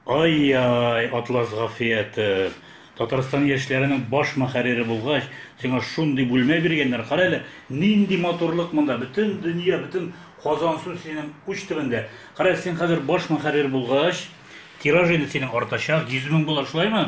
Ай-яй, Атлас Гафиятов, Татарстан яшьләренең баш мөхәррире булгач, сиңа шундый бүлмә биргәннәр. Кара әле, нинди матурлык монда. Бөтен дөнья, бөтен Казансу синең уч төбендә. Кара, син хәзер баш мөхәррир булгач, тираж инде синең артачак, 100 мең булыр, шулаймы?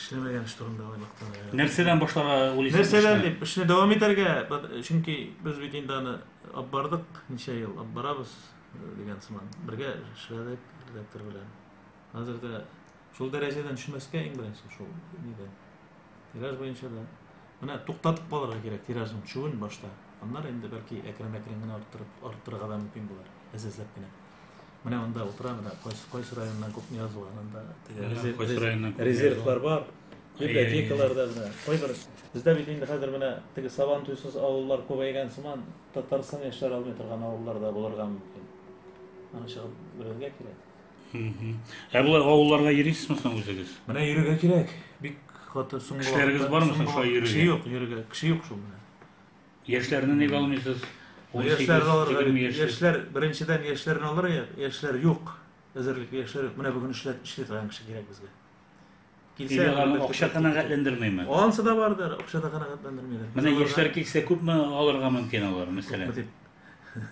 эшләмәгән эш турында айлыкта. Нәрсәдән башларга уйлыйсыз? Нәрсәдән дип эшне дәвам итәргә, чөнки без бит инде аны алып бардык, ничә ел алып барабыз э, дигән сыман. Бергә эшләдек редактор белән. Хәзер дә шул дәрәҗәдән төшмәскә иң беренче шул нидә. Тираж буенча да менә туктатып калырга кирәк тиражын төшүен башта. Аннары инде бәлки әкрен-әкрен генә арттырып арттырырга да мөмкин булыр, әзәзләп кенә. Менә монда утыра, менә кайсы, кайсы районнан күп не язылган, анда теге резерв- кайсы районнан күп резервлар бар, библиотекаларда менә, кайбер, бездә бит инде хәзер менә теге сабан туйсыз авыллар күбәйгән сыман, Татарстан яшьләре алмый торган авыллар да булырга мөмкин. Аны чыгып белергә кирәк. Мгм. Ә болай авылларга йөрисезме соң үзегез? Менә йөрергә кирәк. Бик каты соңгы Кешеләрегез вакытта- бармы соң соңгы шулай вакыт- йөрергә? Кеше юк, йөрергә. Кеше юк шул менә. Яшьләрне ник алмыйсыз? Яшьләрне алырга бит, яшьләр, беренчедән, яшьләрне алырга, яшьләр юк. Әзерлекле яшьләр юк. Менә бүген эшләр, эшли торган кеше кирәк безгә. Килсә, Нигә аларны акча канәгатьләндермиме? Ансы да бардыр, акча да канәгатьләндермиләр. Менә яшьләр килсә, күпме алырга мөмкин алар, мәсәлән? Дип.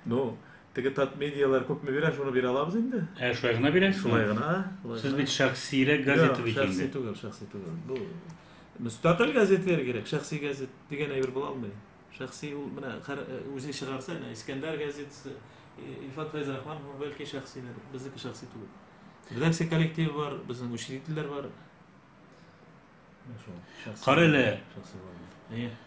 Ну, теге тат медиалар күпме бирә, шуны бирә алабыз инде. Ә шулай гына бирәсезме? Шулай гына. Сез бит шәхсиерәк газета бит инде. Шәхси түгел, шәхси түгел. Бу Мөстәкыйль газетләр кирәк, шәхси газет дигән әйбер була алмый. Шәхси ул менә үзе чыгарса, әнә Искәндәр газетасы, Илфат Фәйз Рахман, бәлки шәхсидер, безнеке шәхси түгел. Редакция коллективы бар, безнең учредительләр бар. Шул. Кара әле. Шәхси бар.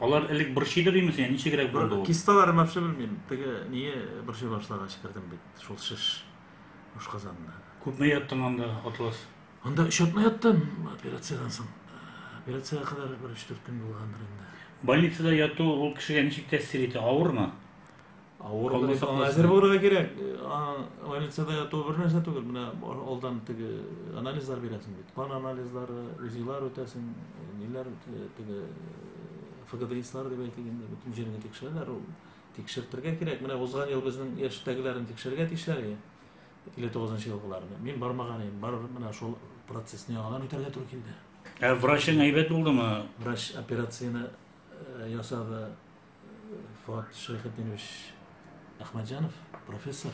Алар элек борчыйдыр имеш, я ничегрәк булды ул? Кисталар мәпше белмим. Теге ние борчый башлагач кердем бит. Шул шеш ашказанына. Күпме яттың анда, Атлас? Анда өч атна яттым операциядән соң. Операциягә кадәр бер өч-дүрт көн булгандыр инде. Больницада яту ул кешегә ничек тәэсир итә? Авырмы? Авыру дип аңа әзер булырга кирәк. Больницада яту бер нәрсә түгел. Менә алдан теге анализлар бирәсең бит. Кан анализлары, УЗИлар үтәсең, ниләр теге ФГДИСлар дип әйтелгәндә бөтен җиреңне тикшерәләр. Ул тикшертергә кирәк. Менә узган ел безнең яшьтәгеләрне тикшерергә тиешләр иде. 59 елгыларны. Мин бармаган идем. Бар менә шул процессны яңадан үтәргә туры килде. Ә врачың әйбәт булдымы? Врач операцияне ясады. Фуат Шәйхетдинович Әхмәтҗанов, профессор,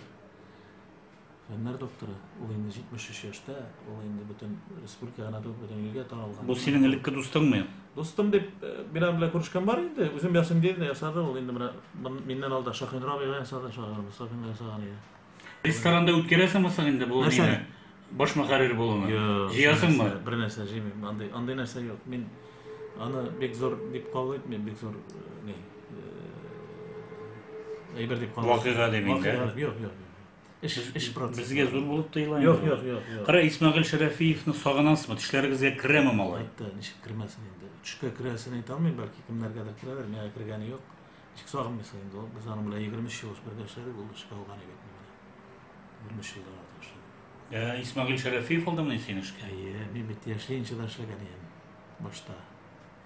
фәннәр докторы. Ул инде 73 яшьтә, ул инде бөтен республика гына түгел, бөтен илгә таралган. Бу синең элекке дустыңмы? Дустым дип э, бирам белән күрешкән бар инде. Үзем ясыйм диде, ясады. Ул инде менә миннән алда Шахинрабига ясады, шагыйрь Мостафинга ясаган иде. Ресторанда үткәрәсеңме соң инде бу Нәрсәне? нидә? Баш мөхәррир булуны. Юк, Җыясыңмы? нәрсә- Бер нәрсә җыймыйм. Андый, андый нәрсә юк. Мин аны бик зур дип кабул итмим, бик зур э, ни. э, Әйбер дип кабул итмим. Вакыйга димин, дә? Вакыйга, Юк, юк. Эш, эш процессы. Безгә зур булып тоела. Юк, инде. юк, юк, юк. Кара Исмәгыйль Шәрәфиевны сагынасызмы? Тешләрегезгә керәме малай? Хәтта ничек кермәсен инде. Төшкә керәсен әйтә алмыйм, бәлки кемнәргәдер керәдер, миңа кергәне юк. Ничек сагынмыйсың инде ул? Без аның белән 23 ел бергә эшләдек, ул эшкә алган иде бит мине. 23 елдан артык эшләдек. Ә Исмагил Шәрәфиев алдымыни син эшкә? Әйе, мин бит яшьле да эшләгән идем башта.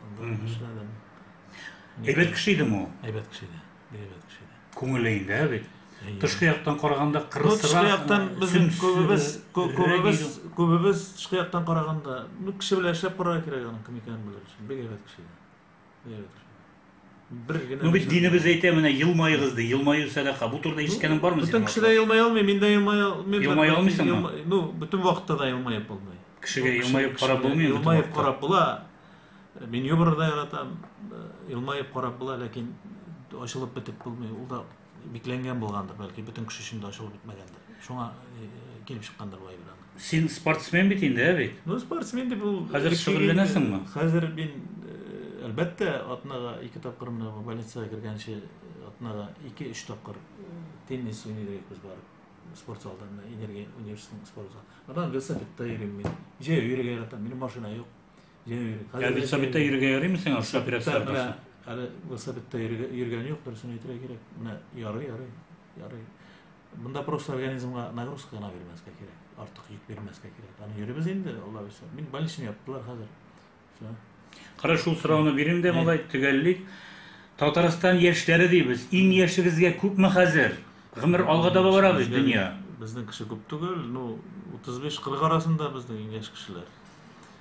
Анда эшләдем. Әйбәт кеше идеме ул? Әйбәт кеше иде. Бик әйбәт кеше иде. Күңеле инде, бит. Тышкы яктан караганда кырысрак. Тышкы яктан без күбебез күбебез күбебез тышкы яктан караганда, ну кеше белән эшләп карарга кирәк аның кем икәнен белер өчен. Бик әйбәт кеше иде. бер генә Ну бит динебез әйтә, менә елмаегыз ди. Елмаю сәдака. Бу турыда ишеткәнең бармы синең? Бөтен кеше дә елмая алмый, мин дә елмая алмыйм. Елмая алмыйсыңмы? Ну, бөтен вакытта да елмаеп булмый. Кешегә елмаеп карап булмый инде. Елмаеп карап була. Мин юмор да яратам. Елмаеп карап була, ләкин ачылып бетеп булмый. Ул да Бикләнгән булгандыр, бәлки, бөтен кеше өчен дә ачылып бетмәгәндер. Шуңа э, килеп чыккандыр бу әйбер аны. Син спортсмен бит инде, ә бит? Ну, спортсмен дип ул... Хәзер шөгыльләнәсеңме? Хәзер мин, э, әлбәттә, атнага ике тапкыр менә бу больницага кергәнче атнага ике-өч тапкыр теннис уйный идек без барып. Спорт залда менә энергия университетының спорт залы. Аннан велосипедта йөрим мин. Җәяү йөрергә яратам. Минем машина юк. Ә велосипедта йөрергә ярыймы сиңа шул операция аркасы? Әле велосипедта йөргән юк, дөресен әйтергә кирәк. Менә ярый, ярый, ярый. Монда просто организмга нагрузка гына бирмәскә кирәк. Артык йөк бирмәскә кирәк. Аны йөрибез инде, Алла бирсә. Мин больничный яптылар хәзер. Все. Кара шул сорауны бирим дә, малай, төгәллик. Татарстан яшьләре дибез. Иң яшегезгә күпме хәзер? Гомер алга таба бара бит дөнья. Безнең кеше күп түгел, ну 35-40 арасында безнең иң яшь кешеләр.